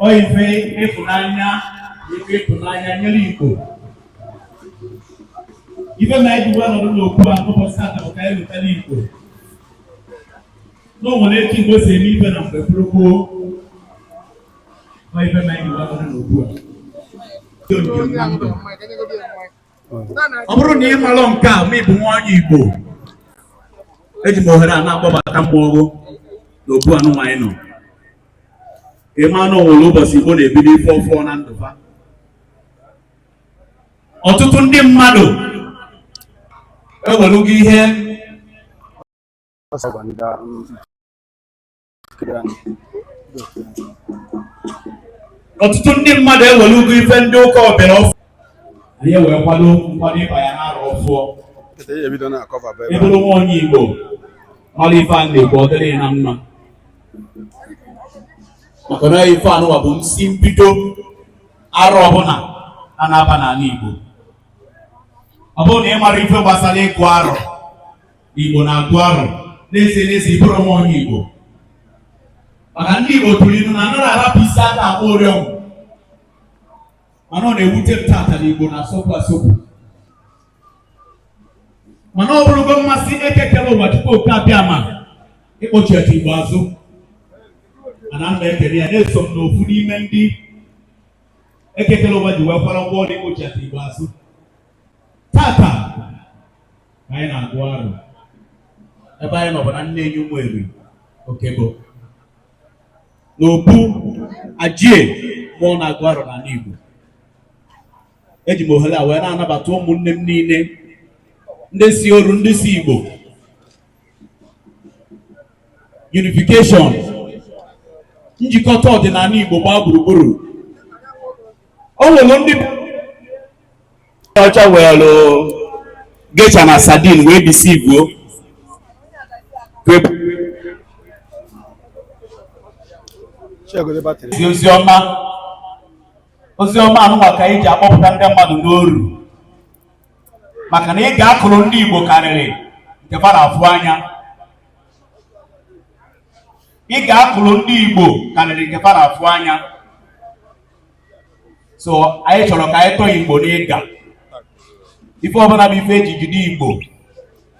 ọ ife ịfụnanya ife ịfụnanya nyere Igbo ife m ji wee nọdụ n'okwu a n'ụbọchị tata bụ ka anyị lotara Igbo na o nwere etu Igbo si eme ife na mgbe gboo gboo ọ ife m ji wee nọdụ n'okwu a ọ bụrụ na ị marọ nke a ma ị bụ nwa onye Igbo eji m ohere a na-akpọbata mmọnwụ na obu anụnwa anyị nọ ka ị maa na o nwere ụbọchị Igbo na-ebido ife ọfụọ na ndụ ha ọtụtụ ndị mmadụ ewelugo ihe ọtụtụ ndị mmadụ ewerugo ife ndị ụka ọbịara ọfụụ anyị wee kwado nkwado ịba ya n'arọ ọfụọ ị bụrụ nwa onye igbo mara ife a na-ekwu ọ dịrị na mma maka na ife anụwa bụ nsi mbido arọ ọbụla a na-aba n'ala igbo ọ bụrụ na ị mara ife gbasara ịgụ arọ Igbo na-agụ arọ n'ezie n'ezie ị bụrụ nwa onye Igbo maka ndị Igbo tụrụ ilu na anaghị arapụ isi aka akpọ ụrịọm mana ọ na-ewute m tata na Igbo na-asọpụ asọpụ mana ọ bụrụgo mmasị Eke kere ụwa Chukwu oke Abịama ịkpọchiata Igbo azụ mana m na-ekele ya na eso m n'ofu n'ime ndị Eke kere ụwa ji wee kwara ụgwọ ọrụ ịkpọchiata Igbo azụ tata anyị na-agụ arọ ebe anyị nọ bụ na Nneyi Ụmụeri Okebo n'obu ajie mụọ na-agụ arọ n'ala Igbo eji m ohere a wee na-anabata ụmụnne m niile ndị si oru ndị si Igbo unification njikọta ọdịnala Igbo gbaa gburugburu o nwere ndị ọcha were Geisha na sardine wee deceive igbo ozi ọma ozi ọma anụnwa ka anyị ji akpọpụta ndị mmadụ n'oru maka na ịga a kụrụ ndị Igbo karịrị nke fa na-afụ anya ịga a kụrụ ndị Igbo karịrị nke fa na-afụ anya so anyị chọrọ ka anyị tọọ igbo n'ịga ife ọbụla bụ ife eji jide igbo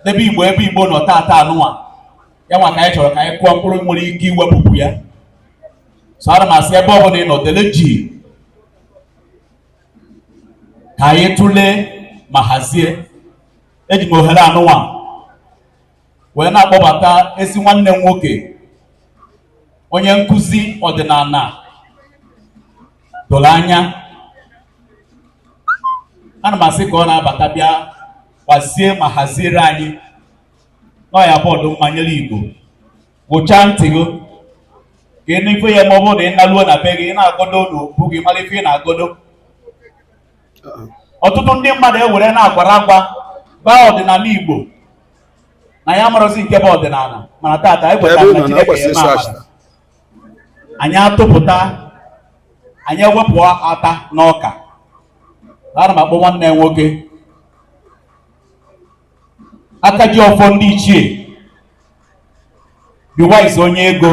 n'ebe igbo ebe igbo nọ taata anụwa ya nwa ka anyị chọrọ ka anyị kụọ mkpụrụ nwere ike iwepụpụ ya so ana m asị ebe ọbụla ị nọ dele jii ka anyị tụlee ma hazie eji m ohere anụwa wee na-akpọbata ezi nwanne m nwoke onye nkụzi ọdịnala doro anya ana m asị ka ọ na-abata bịa gbazie ma haziere anyị na ya bụ ọdụ mmanyere igbo gwụchaa ntị gị ka ị nụ ife ya ma ọ bụrụ na ị naluo na be gị ị na-agodo n'okpu gị mara ife ị na-agodo ọtụtụ ndị mmadụ ewere na-agwara agwa baa ọdịnala igbo na ya amarọzi nke bụ ọdịnala mana tata anyị kwetara na Chineke ya eme amara anyị atụpụta anyị ewepụ ata n'ọka ana m akpọ nwanne m nwoke aka ji ọfọ ndị ichie Be Wise onye ego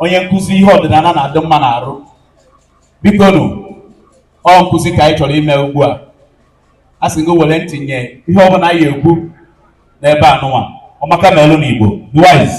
onye nkụzi ihe ọdịnala na-adị mma n'arụ biko nụ ọ nkụzi ka anyị chọrọ ime ugbu a a sị gị were ntị nye ihe ọ bụla anyị ekwu n'ebe anụnwa ọmaka melụ n'Igbo Be Wise